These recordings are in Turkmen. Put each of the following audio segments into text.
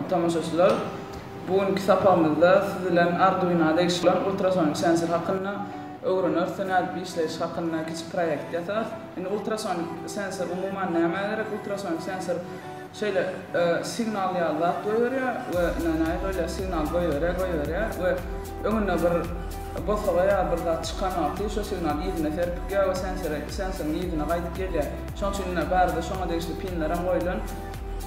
tomaşaçylar! Bu günki sapagymyzda siz bilen Arduino degişli bolan ultrasonik sensor hakynda öwreneris we nädip işleýşi hakynda kiçi proýekt ýasarys. Indi ultrasonik sensor umuman nämä gerek? Ultrasonik sensor Şeýle signal ýaly zat goýberýär we nänaý böyle signal goýberýär, goýberýär we öňüne bir bosaga ýa bir zat çykan wagty şo signal yzyna serpikýär we sensere, sensoryň yzyna gaýdyp gelýär. Şoň üçin ine bärde şoňa degişli pinler hem goýlan.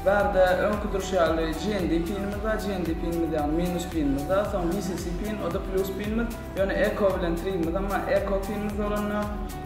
Bärde öňki durşy ýaly GND pinimiz bar, GND pinimiz ýagny minus pinimiz bar, soň VCC pin, o-da plus pinimiz, ýöne Echo bilen Three-miz hem bar, Echo pinimiz bolanda,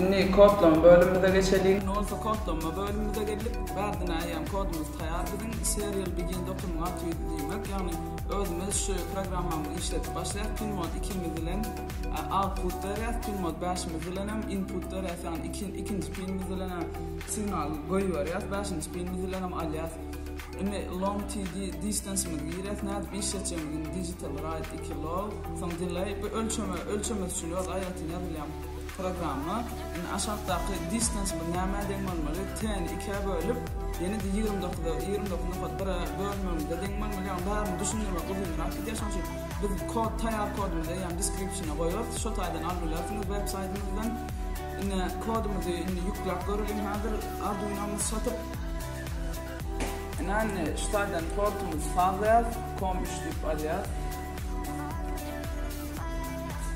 Indi kodlama bölümimize geçeliň. Indi bolsa kodlama bölümimize geldik. Bärde näýem kodumyz taýar biziň. Serial begin dokunma at ýüz diýmek. Ýagny özümiz şu programmamyzy işledip başlaýas. Pinmod ikimiz bilen output berýäs. Pinmod bäşimiz bilenem input berýäs. Ýagny ikinji pinimiz bilenem signal goýberýäs. Bäşinji pinimiz bilenem alýas. Indi long TD distance-miz girýär, nädip iş etjegimiz indi digital write iki log, soň delay bu ölçeme ölçemesi üçin öz aýratyn ýazylýan programma. Indi aşakdaky distance bu nämä deň bolmaly? T-ni ikä bölüp, ýene-de ýigrimi dokuza ýigrimi dokuz nokat bire bölmegimize deň bolmaly. Ýagny bärini düşündirmek uzynrak gidýär, şonuň üçin biz kod taýýar kodumyzy eýýäm description-a goýarys, şo taýdan alyp bilersiňiz web saýtymyzdan. Ine kodumyzy indi ýükläp göreliň häzir arduinomyzy satyp. Ynanny şu taýdan tortumyzy sazlaýas, kom üçlüp alýas.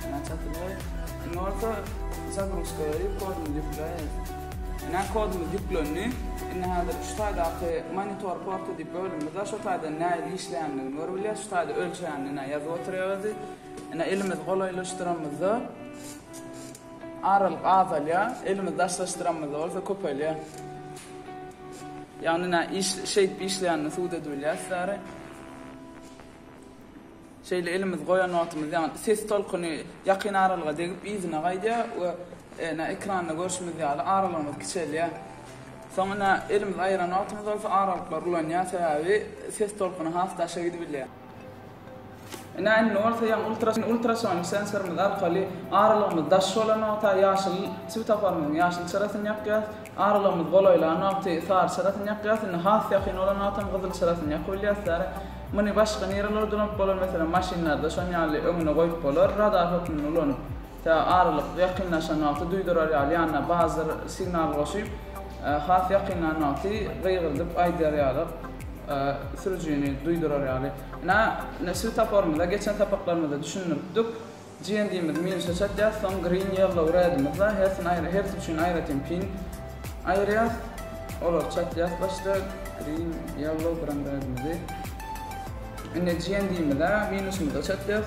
Ynanny çatyrlaý. Indi bolsa zagruzka berip koduny ýükläýeris. Ynanny kodumyz ýüklendi. Indi häzir şu taýdaky monitor porty diýip bölümimiz bar. Şo taýdan nähili işleýändigini görüp bilýäs. Şu taýda ölçegini ynanny ýazyp oturýar özi. Ynanny elimizi golaýlaşdyramyzda. Aralyk azalýar, elimizi daşlaşdyranymyzda bolsa köpelýär. Ýagny nä iş şeýdip işleýänini subut edibilýäris däri. Şeýle elimizi goýan wagtymyz ýagny ses tolkuny ýakyn aralyga degip yzyna gaýdýar we nä ekranda görşümiz ýaly aralygymyz kiçelýär. Soň nä elimizi aýyran wagtymyz bolsa aralyklar ulanýar sebäbi ses tolkuny has daşa gidibilýär. Ine, indi bolsa ýaňy ultrason sensorymyz arkaly aralygymyz daş bolan wagta ýaşyl swetaforymyzyň ýaşyl çyrasyny ýakýarys, aralygymyz golaýlan wagty sary çyrasyny ýakýarys, indi has ýakyn bolan wagtam gyzyl çyrasyny ýakyp bilýäris. Ýari muny başga nirelerde ulanyp bolar, meselem, maşynlarda şonuň ýaly öňüne goýup bolar, radar hökmünde ulanyp. Tä aralyk ýakynlaşan wagty duýdurar ýaly ýanyna bazyr signal goşup, has ýakynlan wagty gygyrdyp aýdar ýaly sürüjini duýdurar ýaly. Ine, ine swetaforymyza geçen sapaklarymyzda düşündiripdik. GND-mizi minusa çatýas, soň green, yellow, red-imizde hersini aýry, hersi üçin aýratyn pin aýyrýas. Olary çatýas başda, green, yellow, gran red-imizi. Indi GND-mize minusymyza çatýas.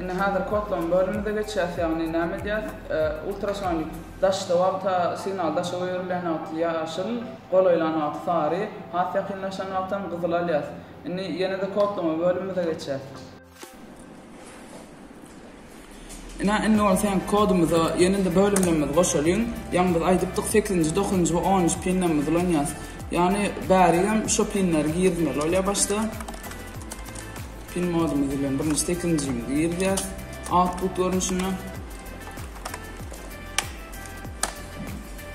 Indi häzir kodlama bölümimize geçýäs, ýagny näme edýäs? Ultrasonik daşda wagta signal daşa goýberilýän wagty ýaşyl, golaýlan wagty sary, has ýakynlaşan wagtam gyzyl alýas. Indi ýene-de kodlama bölümimize geçýäs. Ine, indi bolsa ýaňky kodumyza ýene-de bölümlerimizi goşalyň. Ýaňy biz aýdypdyk, sekizinji, dokuzynjy we onunjy pinlerimizi ulanýas. Ýagny bärigem şo pinleri girizmeli bolýar başda. Pin modumyz bilen birinji stekinjimizi girýäs output görnüşinde.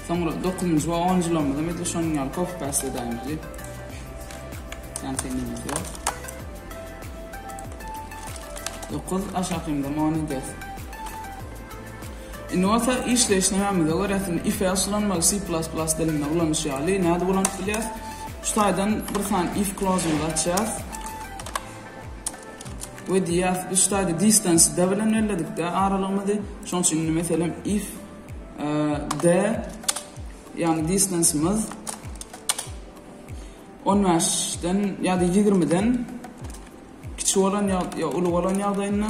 Soňra dokuzynjy we onunjy lamyzy hem edil şonuň ýaly copy paste edäýmeli. Konteýnerimiz ýok. Dokuz aşakynda on edýäs. Indi bolsa işleýiş nämämize görä, if else ulanmaly C++ dilinde ulanyş ýaly nädip ulanyp bilýäs? Şu taýdan bir sany if klozumyzy açýas. We diýýär, biz ştaýda distance D bilen belledik D aralygymyzy. Şoň üçin indi meselem if D ýagny distance'ymyz 15-den ýa-da 20-den kiçi bolan ýa-da uly bolan ýagdaýynda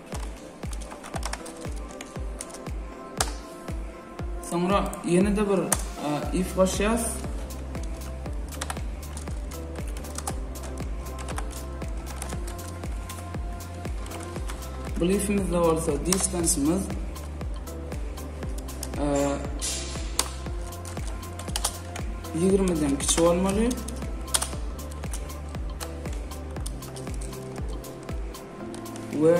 Soňra ýene-de bir if goşýas. Bu lifimizde bolsa distance'ymyz e, ýigrimiden kiçi bolmaly. we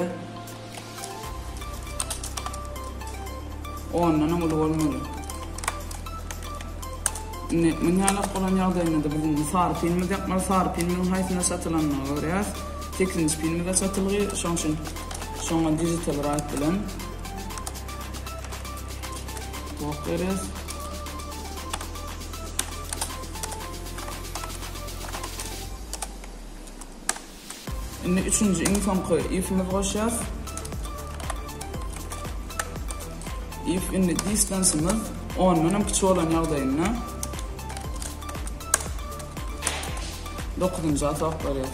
ondanam uly bolmaly. Indi münhälek bolan ýagdaýynda-da biz indi sary pilimizi ýapmaly. Sary pilimiziň haýsyna satylanyna görýäs. Sekizinji pilimize satylgy. Şoň üçin şoňa digital write bilen ok berýäs. Indi üçünji iň soňky ifimiz goşýas. If indi distanceymyz ondan hem kiçi bolan ýagdaýynda dokuzynja atak barýar.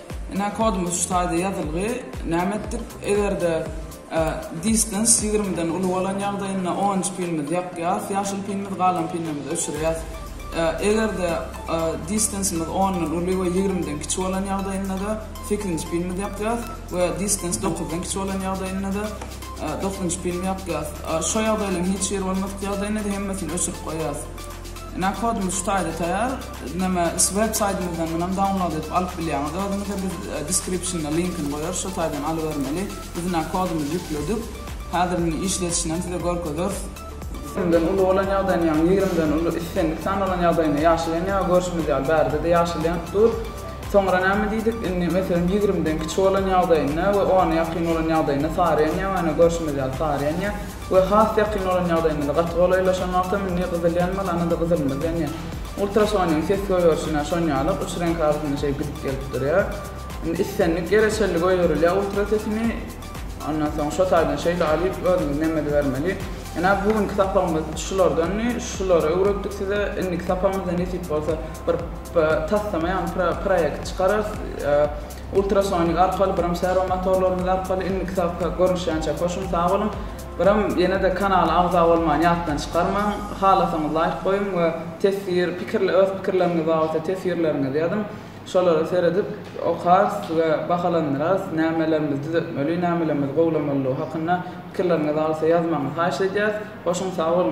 Ine kodumyz şu taýda ýazylgy. Näme etdik? Eger-de distance ýigrimiden uly bolan ýagdaýynda orange pinimizi ýakýas, ýaşyl pinimiz, galan pinlerimizi öçürýäs. Eger-de distancymyz ondan uly we ýigrimiden kiçi bolan ýagdaýynda-da sekizinji pinimizi ýakýas we distance dokuzdan kiçi bolan ýagdaýynda-da dokuzynjy pinimizi ýakýas. Şo ýagdaýlaryň hiç biri bolmadyk ýagdaýynda-da hemmesini öçürip goýýas. Ine kod muşdaýda taýar neme web saýtymyzdan munam download edip alyp bilýäňiz özüňize biz descriptiona linkini goýarys şo taýdan alybermeli biz ine kodumyzy ýükledik häzir muny işledişinem size görkezeris. Ýigrimden uly bolan ýagdaýyny ýagny ýigrimden uly islendik san bolan ýagdaýynda ýaşylýan ýa görşümiz ýaly bärdede ýaşylýan dur soňra näme diýdik indi meselem ýigrimden kiçi bolan ýagdaýynda we ona ýakyn bolan ýagdaýynda sarýan ýa ene görşümiz ýaly sarýan ýa we has ýakyn bolan ýagdaýymyzda gaty golaýlaşan wagtam indi gyzyl ýanmaz, ana-da gyzylymyz ýanýar. Ultrasonyň ses gögerişine şon ýaly uç reňk arasynda şeý gidip gelip durýar. Indi islendik ýere çenli göýerilýär ultra sesini. Ondan soň şo taýdan şeýle alyp özümiz nemede bermeli. Jana bu günki sapagymyz şulardandy. Şulary öwretdik size. Indiki sapagymyzda nesip bolsa bir taslama ýagny proýekt çykararys. Ultrasonik arkaly biram servo motorlarymyz arkaly indiki sapakda görnüşýänçä hoşuň sag boluň biram ýenede kanala agza bolmany ýatdan çykarmaň halasaňyz laýk goýuň we teswir pikirle öz pikirleriňiz babatda teswirleriňizi ýazyň şolara seredip okarys we bahalandyrarys nämelerimiz düzetmeli nämelerimiz gowlamalydygy hakynda pikirleriňiz alsa ýazmagyňyzy haýyş edýäs hoşuň sag boluň.